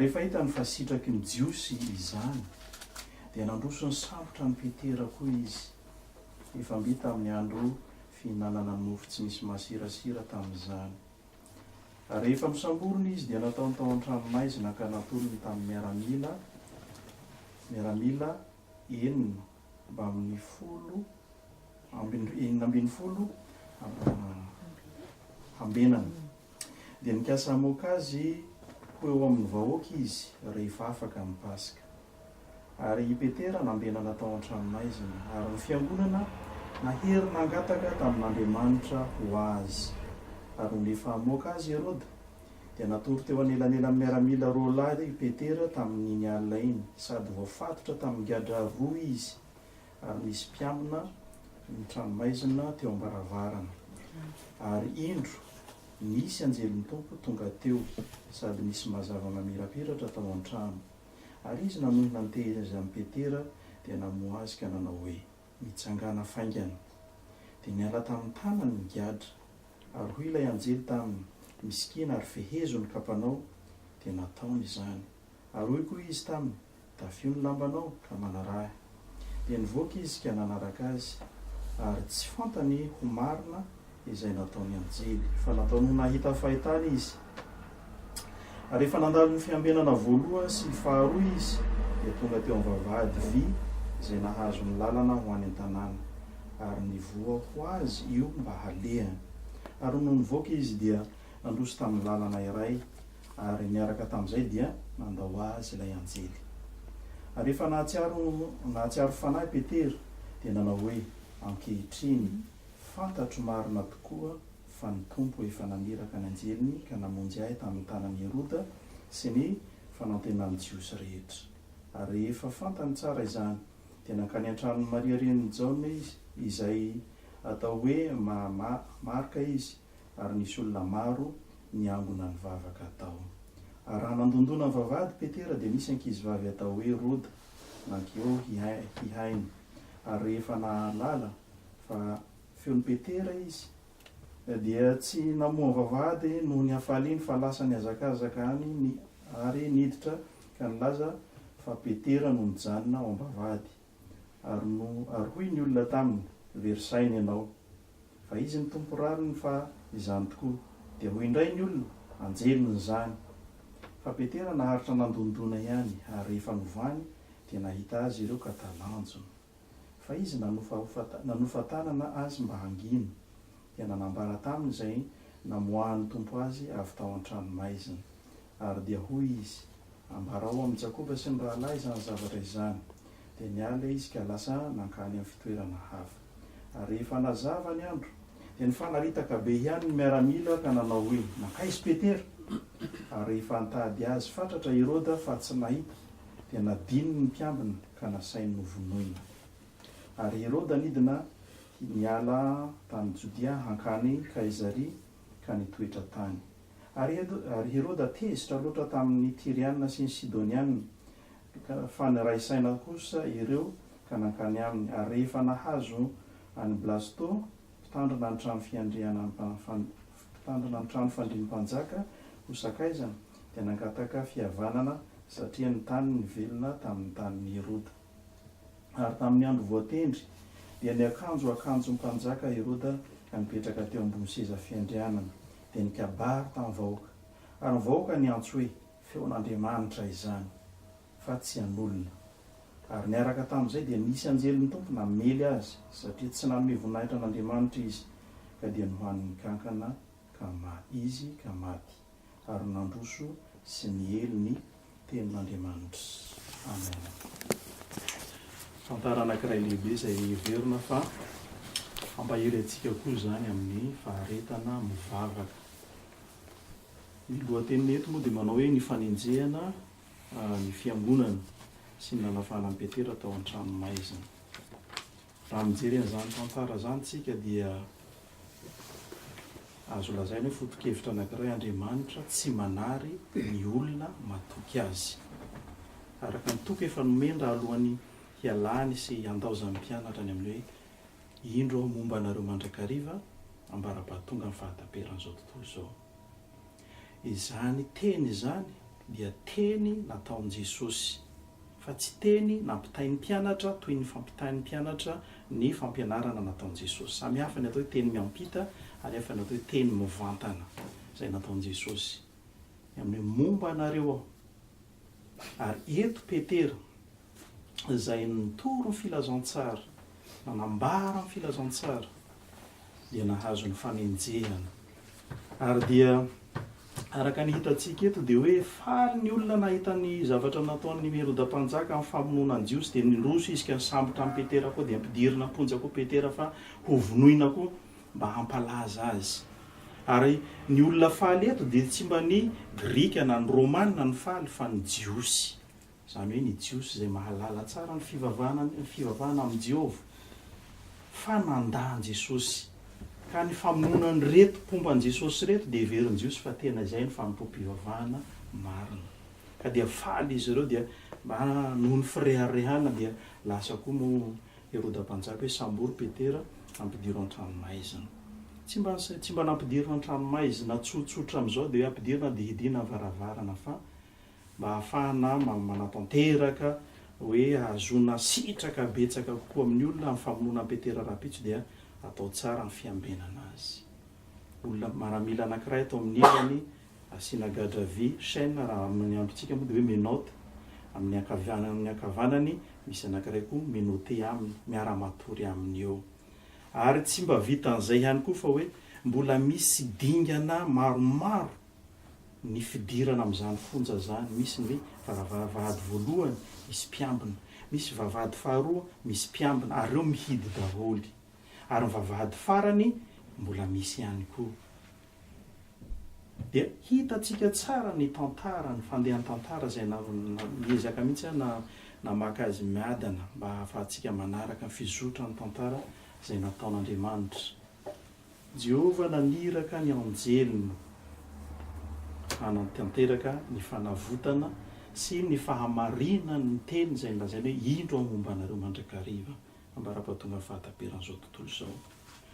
Rehefa hitany fa sitraky ny Jiosy izany, dia nandroso ny sambotra an'i Petera koa izy. Efa mby tamin'ny andro fihinanana mofo tsy misy masirasira tamin'izany. Rehefa nosamborina izy dia nataony tao an-tranomaizina ka natolony tamin'ny miaramila miaramila enina amby folo ambin'ny enina ambin'ny folo hambenana. Dia nikasa hamoaka azy ho eo amin'ny vahoaka izy rehefa afaka ny Paska. Ary i Petera nambenana tao an-tranomaizina, ary ny fiangonana nahery nangataka tamin'Andriamanitra ho azy. Ary nony efa hamoaka azy i Heroda, dia natory teo anelanelan'ny miaramila roa lahy i Petera tamin'iny alina iny, sady voafatotra tamin'ny gadra roa izy, ary nisy mpiambina ny tranomaizina teo am-baravarana. Ary indro, nisy anjelin'ny Tompo tonga teo, sady nisy mazava mamirapiratra tao an-trano. Ary izy nanohina niteheza azy amin'i Petera dia namoha azy ka nanao hoe, Mitsangàna faingana. Dia niala tamin'ny tanany ny gadra. Ary hoy ilay anjely taminy, Misikina ary fehezo ny kapanao. Dia nataony izany. Ary hoy koa izy taminy, Tafio ny lambanao ka manaraha ahy. Dia nivoaka izy ka nanaraka azy, ary tsy fantany ho marina izay nataon'ny anjely, fa nataony ho nahita fahitana izy. Ary rehefa nandalo ny fiambenana voalohany sy ny faharoa izy, dia tonga teo amin'ny vavahady vy izay nahazo ny lalana ho any an-tanàna, ary nivoha ho azy io mba halehany. Ary nony nivoaka izy, dia nandroso tamin'ny lalana iray, Ary niaraka tamin'izay dia nandao azy ilay anjely. Ary rehefa nahatsiaro, nahatsiaro fanahy Petera, dia nanao hoe, Ankehitriny, fantatro marina tokoa fa ny Tompo efa naniraka ny anjeliny ka namonjy ahy tamin'ny tanan'i Heroda sy ny fanantenan'ny Jiosy rehetra. Ary rehefa fantany tsara izany, dia nankany an-tranon'i Maria renin'i Jaona izy, izay atao hoe Ma-Ma-Marka izy, ary nisy olona maro niangona nivavaka tao. Ary raha nandondona nivavahady Petera dia nisy ankizivavy atao hoe Roda nankeo hihaino, ary rehefa nahalala fa feon'i Petera izy, dia tsy namoha vavahady noho ny hafaliany fa lasa nihazakazaka any ary niditra ka nilaza fa Petera no nijanona ao am-bavahady. Ary no ary hoy ny olona taminy, Very saina ianao. Fa izy ny Tompo rariny fa izany tokoa. Dia hoy indray ny olona, Anjeliny izany. Fa Petera naharitra nandondona ihany, ary rehefa novany, dia nahita azy ireo ka talanjona. Fa izy nanofahofa nanofa tanana azy mba hangina, dia nanambara taminy izay namoahan'ny Tompo azy avy tao an-tranomaizina. Ary dia hoy izy, Ambarao amin'i Jakoba sy ny rahalahy izany zavatra izany. Dia niala ilay izy ka lasa nankany amin'ny fitoerana hafa. Ary rehefa hanazava ny andro, dia nifanaritaka be ihany ny miaramila ka nanao hoe, Nankaiza i Petera? Ary rehefa nitady azy fatratra i Heroda fa tsy nahita, dia nadininy ny mpiambina ka nasainy novonoina. Ary i Heroda nidina niala tany Jodia hankany Kaizaria ka nitoetra tany. Ary Ary Heroda tezitra loatra tamin' ny Tiriana sy ny Sidoniana, ka fa niray saina kosa ireo ka nankany aminy. Ary rehefa nahazo an' i Blasto, mpitandrina ny trano fiandrianan' mpitandrina ny trano fandriam-panjaka, ho sakaizany, dia nangataka fihavanana, satria ny tany nivelona tamin' ny tanin' i Heroda. Ary tamin' ny andro voatendry, dia niakanjo akanjon-mpanjaka Heroda ka nipetraka teo ambony seza fiandrianana, dia nikabary tamin'ny vahoaka, ary ny vahoaka niantso hoe, Feon'Andriamanitra izany, fa tsy an'olona. Ary niaraka tamin'izay dia nisy anjelin'ny Tompo namely azy, satria tsy nanome voninahitra an'Andriamanitra izy, ka dia nohanin'ny kankana ka maty izy ka maty, ary nandroso sy niely ny. Tenin'Andriamanitra. Amen. Tantara anankiray lehibe izay heverina fa hampahery antsika koa izany amin'ny faharetana mivavaka. Ny lohateniny eto moa dia manao hoe ny fanenjehana ny fiangonana sy ny nanafahana an'i Petera tao an-tranomaizina. Raha mijery an'izany tantara izany isika dia azo lazaina hoe foto-kevitra anankiray Andriamanitra tsy manary ny olona matoky Azy. Araka ny toky efa nomen-dra alohan'ny hialany sy handaozan'ny mpianatra ny amin'ny hoe Indro aho momba anareo mandrakariva ambara-pahatongan'ny fahataperan'izao tontolo izao. Izany teny izany dia teny nataon'i Jesosy, fa tsy teny nampitain'ny mpianatra toy ny fampitain'ny mpianatra ny fampianarana nataon'i Jesosy. Samy hafa ny atao hoe teny miampita ary hafa ny atao hoe teny mivantana izay nataon'i Jesosy. Ny amin'ny hoe momba anareo aho. Ary eto Petera, izay nitory ny Filazantsara, nanambara ny Filazantsara, dia nahazo ny fanenjehana. Ary dia, araka ny hitantsika eto, dia hoe faly ny olona nahita ny zavatra nataon'i Heroda Mpanjaka amin'ny famonoana ny Jiosy, dia niroso izy ka nisambotra an'i Petera koa, dia ampidirina am-ponja koa Petera fa hovonoina koa mba hampalaza azy. Ary ny olona faly eto dia tsy mba ny Grika na ny Romana no faly fa ny Jiosy. Izany hoe ny Jiosy izay mahalala tsara ny fivavahana ny fivavahana amin'i Jehovah. Fa nandà an'i Jesosy. Ka ny famonoana an'ireto mpomba an'i Jesosy ireto dia heverin'ny Jiosy fa tena izay no fanompoam-pivavahana marina. Ka dia faly izy ireo dia mba noho ny fireharehana dia lasa koa moa Heroda mpanjaka hoe, Sambory Petera, ampidiro an-tranomaizina. Tsy mba tsy mba nampidirina an-tranomaizina tsotsotra amin'izao dia hoe ampidiro na dia hidiana ny varavarana fa mba hahafahana manatanteraka hoe hahazoana sitraka betsaka kokoa amin'ny olona ny famonoana an'i Petera rahampitso dia atao tsara ny fiambenana azy. Olona maramila anankiray ato amin'ny ilany Asiana gadra vy, chaîne, raha amin'ny androntsika moa dia hoe menottes, amin'ny ankavianany amin'ny ankavanany misy anankiray koa menotter aminy, miara matory aminy eo. Ary tsy mba vitan'izay ihany koa fa hoe mbola misy dingana maromaro ny fidirana amin'izany fonja izany, misy ny hoe vavavahady voalohany misy mpiambina, misy vavahady faharoa misy mpiambina ary ireo mihidy daholo, ary ny vavahady farany mbola misy ihany koa. Dia hitantsika tsara ny tantara, ny fandehan-tantara izay na, niezaka mihitsy aho na, namaky azy miadana mba hahafahantsika manaraka ny fizotran'ny tantara izay nataon'Andriamanitra. Jehovah naniraka ny anjeliny hanantanteraka ny fanavotana sy ny fahamarinan' ny teny izay nolazainy hoe, Indro aho momba anareo mandrakariva. Ambara-batonga fahataperan'izao tontolo izao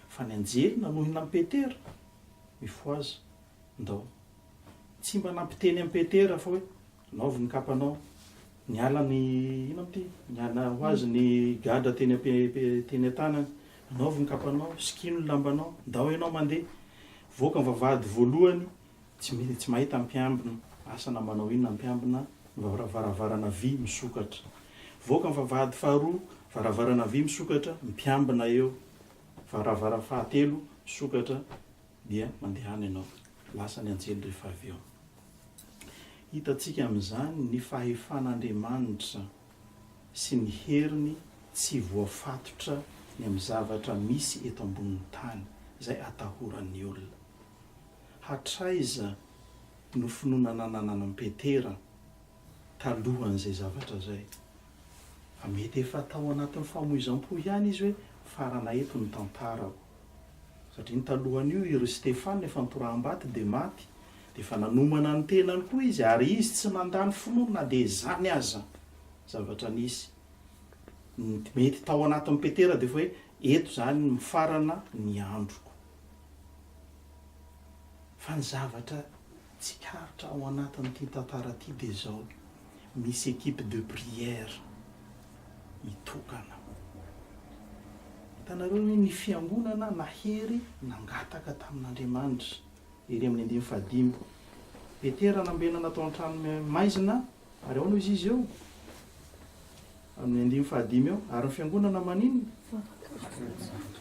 fa ny anjely nanohina an'i Petera, Mifohaza, ndao. Tsy mba nampiteny an'i Petera fa hoe, Anaovy ny kapanao. Niala ny, inona moa ity, niala ho azy ny gadra teny teny an-tanany. Anaovy ny kapanao, sikino ny lambanao, ndao ianao mandeha. Voaka ny vavahady voalohany, Tsy mety tsy mahita mpiambina. Asa na manao inona mpiambina no varavarana vy misokatra. Voaka ny vavahady faharoa, varavarana vy misokatra, mpiambina eo. Varavara fahatelo misokatra dia mandehana ianao. Lasa ny anjely rehefa avy eo. Hitantsika amin'izany ny fahefan'Andriamanitra sy ny heriny tsy voafatotra ny amin'ny zavatra misy eto ambonin'ny tany izay atahoran'ny olona. Hatraiza no finoana nananan'i Petera talohan'izay zavatra izay? Fa mety efa tao anatin'ny famoizam-po ihany izy hoe farana eto ny tantarako. Satria ny talohan'io i ry Stefana efa nitoraham-bato dia maty, dia efa nanomana ny tenany koa izy, ary izy tsy nandà ny finoany na dia izany aza. Zavatra nisy. Ny mety tao anatin'i Petera dia efa hoe, eto izany mifarana ny androko. Fa ny zavatra tsikaritra ao anatin'ity tantara ity dia izao, misy equipe de prière mitokana. Hitanareo hoe ny fiangonana nahery nangataka tamin'Andriamanitra, Ieremia amin'ny andininy fahadimy. Petera nambenana tao an-trano maizina, Ary ahoana hoy izy eo? Amin'ny andininy fahadimy eo, Ary ny fiangonana maninona?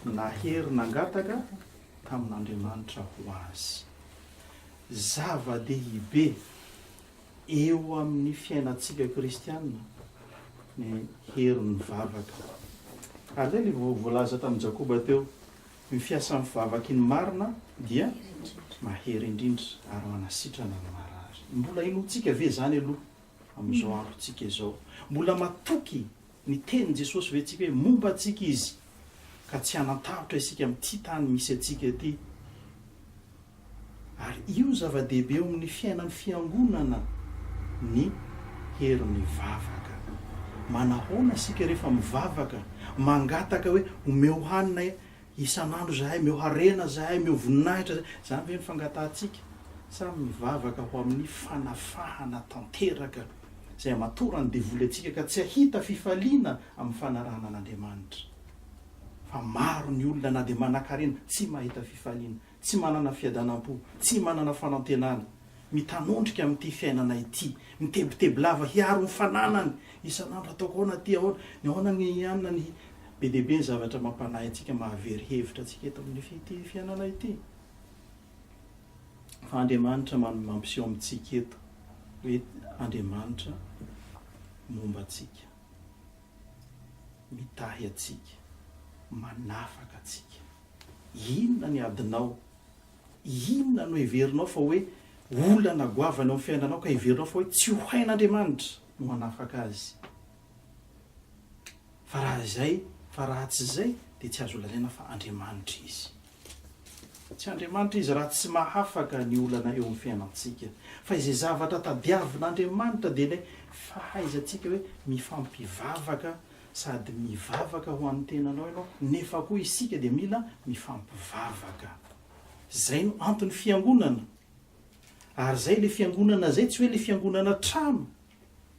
Nahery nangataka tamin'Andriamanitra ho azy. Zava-dehibe eo amin'ny fiainantsika kristiana ny herin'ny vavaka. Ary izay ilay voalaza tamin'i Jakoba teo, Ny fiasan'ny vavaky ny marina dia mahery indrindra ary manasitrana ny marary. Mbola inoantsika ve izany aloha amin'izao androntsika izao? Mbola matoky ny tenin'i Jesosy ve isika hoe momba antsika izy ka tsy hanan-tahotra isika amin'ity tany misy antsika ity? Ary io zava-dehibe eo amin'ny fiainan'ny Fiangonana ny hery mivavaka. Manahoana isika rehefa mivavaka, mangataka hoe omeo hanina isan'andro izahay, omeo harena izahay, omeo voninahitra izahay. Izany ve ny fangatahantsika? Sa mivavaka ho amin'ny fanafahana tanteraka izay hamatoran'ny devoly antsika ka tsy hahita fifaliana amin'ny fanarahana an'Andriamanitra? Fa maro ny olona na dia manankarena tsy mahita fifaliana. Tsy manana fiadanam-po, tsy manana fanantenana, mitanondrika amin'ity fiainana ity, mitebiteby lava hiaro ny fananany isan'andro, ataoko ahoana aty, ahoana ny ahoana ny anona ny, be dia be ny zavatra mampanahy antsika, mahavery hevitra antsika eto amin'ity fiainana ity, fa Andriamanitra man mampiseho amintsika eto hoe Andriamanitra momba antsika, mitahy antsika, manafaka antsika. Inona ny adinao? Inona no heverinao fa hoe olana goavana eo amin'ny fiainanao ka heverinao fa hoe tsy ho hain'Andriamanitra no hanafaka azy? Fa raha izay, fa raha tsy izay dia tsy azo lazaina fa Andriamanitra izy. Tsy Andriamanitra izy raha tsy mahafaka ny olana eo amin'ny fiainantsika. Fa izay zavatra tadiavin'Andriamanitra dia ilay fahaizantsika hoe mifampivavaka sady mivavaka ho an'ny tenanao ianao nefa koa isika dia mila mifampivavaka. Izay no anton'ny fiangonana. Ary izay ilay fiangonana izay tsy hoe ilay fiangonana trano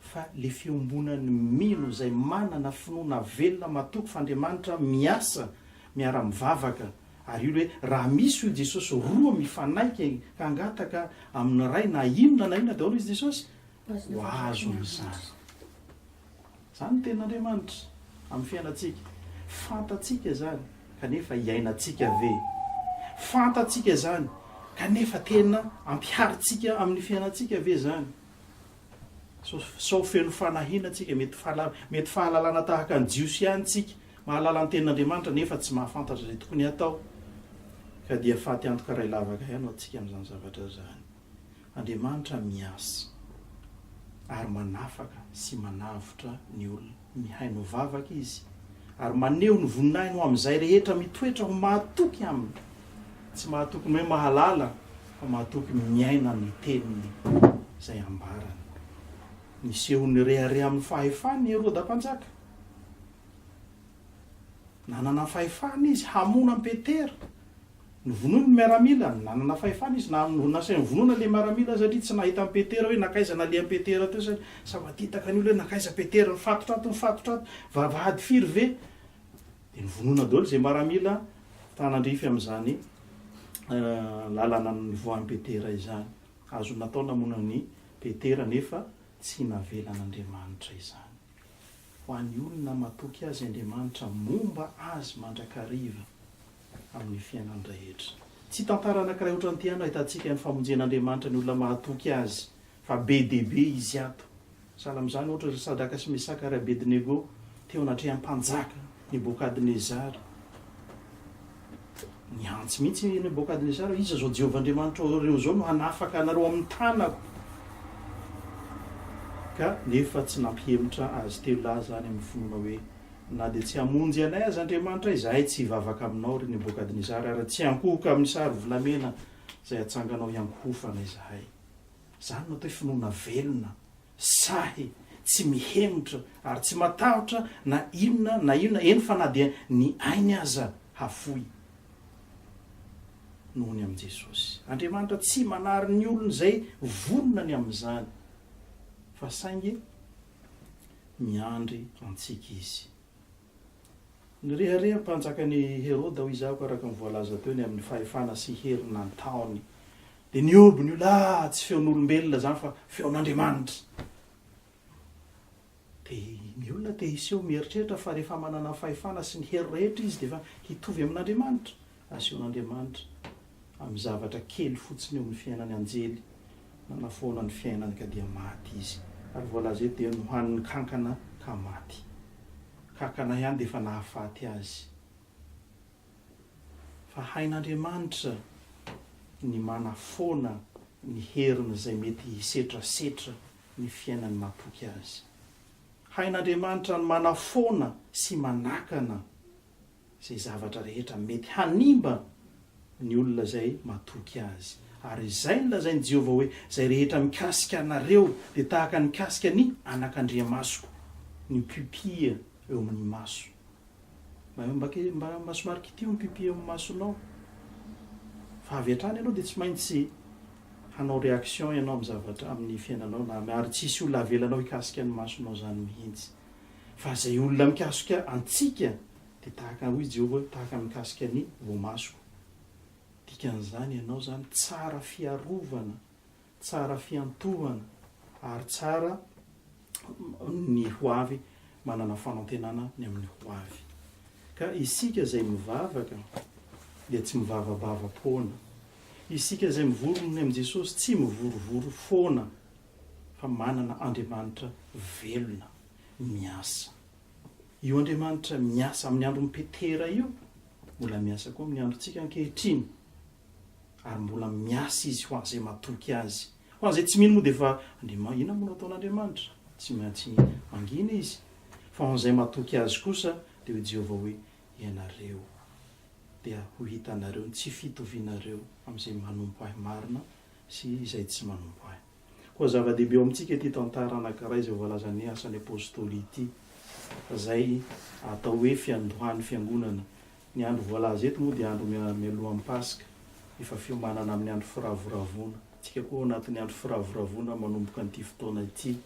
fa ilay fiombonan'ny mino izay manana finoana velona matoky f'Andriamanitra miasa miara-mivavaka ary io hoe raha misy hoy Jesosy roa mifanaiky hangataka amin'ny Ray na inona na inona daholo izy Jesosy ho azo amin'izany. Izany ny Tenin'Andriamanitra amin'ny fiainantsika. Fantatsika izany, kanefa iainantsika ve? Fantatsika izany, kanefa tena ampiharintsika amin'ny fiainantsika ve izany? Sao feno fanahiana isika, mety mety fahalalana tahaka ny Jiosy ihany isika, mahalala ny Tenin'Andriamanitra nefa tsy mahafantatra izay tokony hatao, ka dia faty antoka iray lavaka ihany hoatsika amin'izany zavatra izany. Andriamanitra miasa ary manafaka sy manavotra ny olona. Mihaino vavaka Izy ary maneho ny voninahiny ho amin'izay rehetra mitoetra ho mahatoky Aminy, tsy mahatoky ny hoe mahalala fa mahatoky ny miaina ny teniny izay ambarany. Niseho nirehareha amin'ny fahefany i Heroda Mpanjaka. Nanana fahefana izy hamono an'i Petera. Novonoiny ny miaramila, nanana fahefana izy na amin'ny orinasa ihany vonoina ilay miaramila satria tsy nahita an'i Petera hoe nankaiza naleha an'i Petera teo izany. Sa matetaka ny olona hoe nankaiza Petera, nifatotra ato, nifatotra ato, vavahady firy ve? Dia novonoina daholo izay miaramila mpanandrify amin'izany lalana nivoahan'i Petera izany. Azony natao namono an'i Petera nefa tsy navelan'Andriamanitra izany. Ho an'ny olona matoky azy Andriamanitra momba azy mandrakariva. amin'ny fiainany rehetra. Tsy tantara anankiray ohatran'ity ihany no ahitantsika ny famonjen'Andriamanitra ny olona mahatoky Azy, fa be dia be izy ato. Sahala amin'izany, ohatra, ry Sadraka sy Mesaka ary Abednego teo anatrehan'ny mpanjaka Nebokadnezara. Nihantsy mihitsy i Nebokadnezara, Iza izao Jehovah Andriamanitrareo izao no hanafaka anareo amin'ny tanako? Ka nefa tsy nampihemotra azy telo lahy izany amin'ny finoana hoe Na dia tsy hamonjy anay aza Andriamanitra, izahay tsy hivavaka aminao, ry Nebokadnezara, ary tsy hankohoka amin'ny sary volamena izay atsanganao hiankohofana izahay. Izany no atao hoe finoana velona, sahy, tsy mihemotra, ary tsy matahotra na inona na inona, eny fa na dia ny ainy aza hafoy noho ny amin'i Jesosy. Andriamanitra tsy manary ny olony izay vonona ny amin'izany, fa saingy miandry antsika izy. Nirehareha ny mpanjakan'i Heroda, hoy Izaho, araka ny voalaza teo, ny amin'ny fahefana sy hery nataony. Dia nihoby ny olona, ah, tsy feon'olombelona izany fa feon'Andriamanitra. Dia ny olona te hiseho mieritreritra fa rehefa manana ny fahefana sy ny hery rehetra izy dia efa hitovy amin'Andriamanitra. Asehon'Andriamanitra amin'ny zavatra kely fotsiny eo amin'ny fiainan'ny anjely nanafoana ny fiainany ka dia maty izy. Ary voalaza eto dia nohanin'ny kankana ka maty. Kankana ihany dia efa nahafaty azy. Fa hain'Andriamanitra ny manafoana ny heriny izay mety hisetrasetra ny fiainan'ny mahatoky azy. Hain'Andriamanitra ny manafoana sy manakana izay zavatra rehetra mety hanimba ny olona izay matoky azy. Ary izay nolazain'i Jehovah hoe, Izay rehetra mikasika anareo dia tahaka ny mikasika ny anakandriamasoko, ny pupille eo amin'ny maso. Mba, mba, mba, mba somary kitiho ny pupille eo amin'ny masonao. Fa avy hatrany ianao dia tsy maintsy hanao réaction ianao amin'ny zavatra, amin'ny fiainanao, na, ary tsy hisy olona havelanao hikasika ny masonao izany mihitsy. Fa izay olona mikasika antsika dia tahaka hoy Jehovah hoe tahaka ny mikasika ny voamasoko. Dikan'izany ianao izany tsara fiarovana, tsara fiantohana ary tsara ny ho avy manana fanantenana ny amin'ny ho avy. Ka isika izay mivavaka dia tsy mivavabava foana. Isika izay mivory ny amin'i Jesosy tsy mivorovoro foana fa manana Andriamanitra velona miasa. Io Andriamanitra miasa amin'ny andron'i Petera io mbola miasa koa amin'ny androntsika ankehitriny, ary mbola miasa izy ho an'izay matoky azy. Ho an'izay tsy mino moa dia efa, Andriamanitra, inona moa no ataon'Andriamanitra? Tsy maintsy mangina izy. Fa ho an'izay matoky azy kosa dia hoy Jehovah hoe, Ianareo dia ho hitanareo ny tsy fitovianareo amin'izay manompo ahy marina sy izay tsy manompo Ahy. Koa zava-dehibe eo amintsika ity tantara anankiray izay voalazan'ny Asan'ny Apostoly ity, izay atao hoe fiandohan'ny Fiangonana. Ny andro voalaza eto moa dia andro mialohan'ny Paska, efa fiomanana amin'ny andro firavoravoana. Isika koa ao anatin'ny andro firavoravoana manomboka an'ity fotoana ity,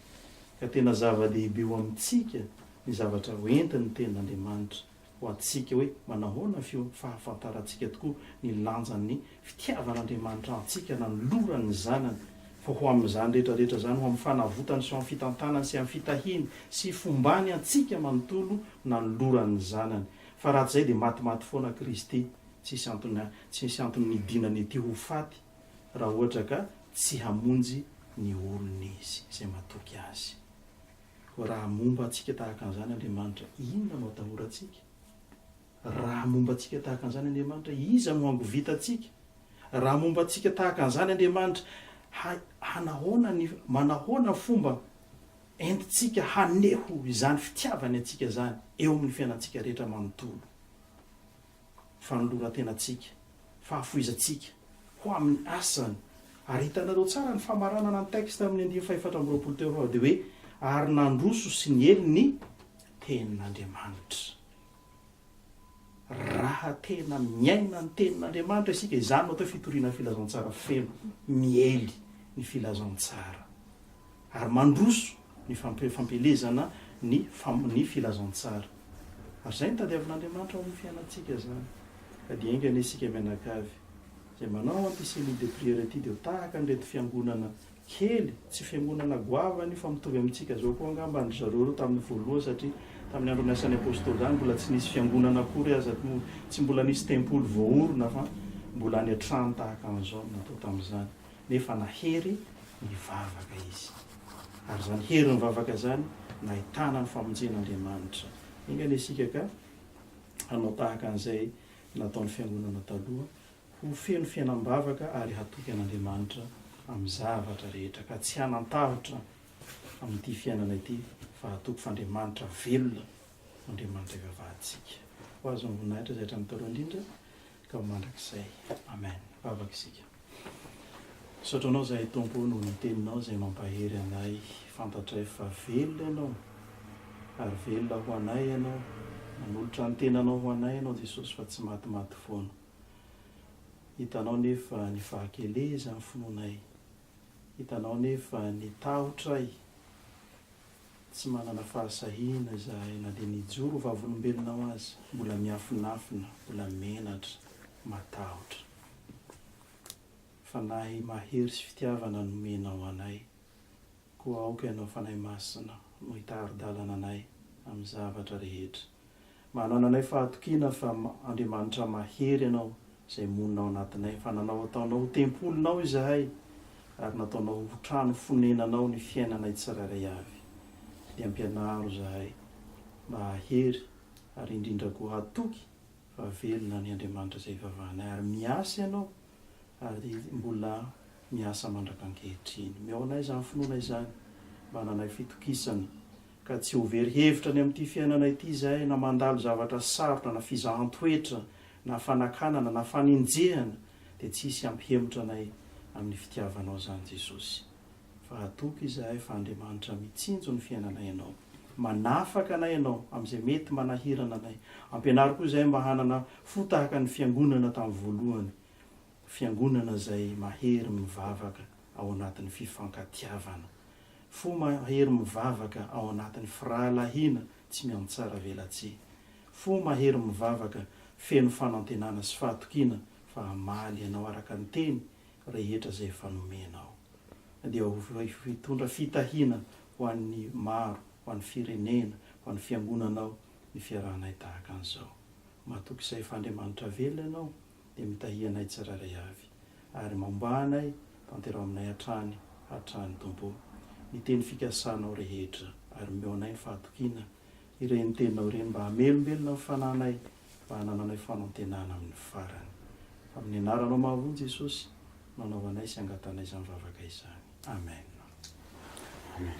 ka tena zava-dehibe eo amintsika ny zavatra hoentin'ny Tenin'Andriamanitra. ho antsika hoe manahoana ny fahafantarantsika tokoa ny lanjan'ny fitiavan'Andriamanitra antsika nanolorany ny Zanany, fa ho amin'izany rehetra rehetra izany, ho amin'ny fanavotany sy ho amin'ny fitantanany sy amin'ny fitahiany sy fombany antsika manontolo nanolorany ny Zanany. Fa raha tsy izay dia matimaty foana Kristy, tsy hisy antony tsy hisy antony nidinany ety ho faty raha ohatra ka tsy hamonjy ny olony Izy izay matoky Azy. Raha momba antsika tahaka an'izany Andriamanitra, inona no atahorantsika? Raha momba antsika tahaka an'izany Andriamanitra, iza no hangovitantsika? Raha momba antsika tahaka an'izany Andriamanitra, ha, hanahoana ny, manahoana ny fomba entintsika haneho izany fitiavany antsika izany eo amin'ny fiainantsika rehetra manontolo? fanoloran-tenantsika, fahafoizantsika ho amin'ny asany. Ary hitanareo tsara ny famaranana ny texte amin'ny andiany fahefatra amby roapolo teo fa dia hoe, Ary nandroso sy niely ny Tenin'Andriamanitra. Raha tena miaina ny Tenin'Andriamanitra isika, izany no atao hoe fitoriana filazantsara feno, miely ny filazantsara. ary mandroso ny fampielezana ny ny filazantsara. Ary izay no tadiavin'Andriamanitra ao amin'ny fiainantsika izany. Ka dia enga anie isika mianakavy, izay manao an'ity cellule de prière ity dia ho tahaka an'ireto fiangonana kely, tsy fiangonana goavana io fa mitovy amintsika izao koa angamba an-dry zareo ireo tamin'ny voalohany satria tamin'ny andron'ny asan'ny Apostoly izany mbola tsy nisy fiangonana akory aza, tsy mbola nisy tempoly voaorina fa mbola any an-trano tahaka an'izao no natao tamin'izany. nefa nahery nivavaka izy. Ary izany hery nivavaka izany nahitana ny famonjen'Andriamanitra. Enga anie isika ka hanao tahaka an'izay nataon'ny fiangonana taloha, ho feno fiainam-bavaka ary hatoky an'Andriamanitra amin'ny zavatra rehetra, ka tsy hanan-tahotra amin'ity fiainana ity, fa hatoky f'Andriamanitra velona no Andriamanitra ivavahantsika. Ho Azy ny voninahitra izay hatramin'ny taloha indrindra. Ka mandrakizay. Amen. Mivavaka isika. Misaotra Anao izahay Tompo noho ny Teninao izay mampahery anay fantatray fa velona Ianao ary velona ho anay Ianao, nanolotra ny tenanao ho anay Ianao Jesosy fa tsy maty maty foana. Hitanao nefa ny fahakelezan'ny finoanay, hitanao nefa ny tahotray, Tsy manana fahasahiana izahay na dia ny hijoro ho vavolombelona ao aza. Mbola miafinafina, mbola menatra, matahotra. Fanahy mahery sy fitiavana nomenao anay, koa aoka Ianao Fanahy Masina no hitari-dalana anay amin'ny zavatra rehetra. Manananay fahatokiana fa Andriamanitra mahery Ianao izay monina ao anatinay, fa nanao ataonao ho tempolinao izahay ary nataonao ho trano fonenanao ny fiainanay tsirairay avy. Dia ampianaro izahay mba hahery ary indrindra koa hatoky fa velona ny Andriamanitra izay ivavahanay ary miasa Ianao ary mbola miasa mandrak'ankehitriny. Omeo anay izany finoana izany mba hananay fitokisana. ka tsy ho very hevitra any amin'ity fiainana ity izahay na mandalo zavatra sarotra na fizahan-toetra na fanakanana na fanenjehana dia tsy hisy hampihemotra anay amin'ny fitiavanao izany Jesosy fa hatoky izahay fa Andriamanitra mitsinjo ny fiainanay ianao manafaka anay ianao amin'izay mety manahirana anay ampianaro koa izahay mba hanana fo tahaka ny fiangonana tamin'ny voalohany Fiangonana izay mahery mivavaka ao anatin'ny fifankatiavana. Fo mahery mivavaka ao anatin'ny firahalahiana tsy miantsaravelatsihy. Fo mahery mivavaka feno fanantenana sy fahatokiana fa hamaly anao araka ny teny rehetra izay efa nomenao. Dia ho hitondra fitahiana ho an'ny maro, ho an'ny firenena, ho an'ny fiangonanao ny fiarahanay tahaka an'izao. Matoky izay fa Andriamanitra velona ianao. dia mitahia anay tsirairay avy, ary mambà anay, tanteraho aminay hatrany, hatrany, Tompo ô, ny teny fikasanao rehetra, ary omeo anay ny fahatokiana, ireny teninao ireny, mba hamelombelona ny fanahinay, mba hanananay fanantenana amin'ny farany. Fa amin'ny Anaranao mahavony, Jesosy, no anaovanay sy angatanay izany vavaka izany. Amen. Amen.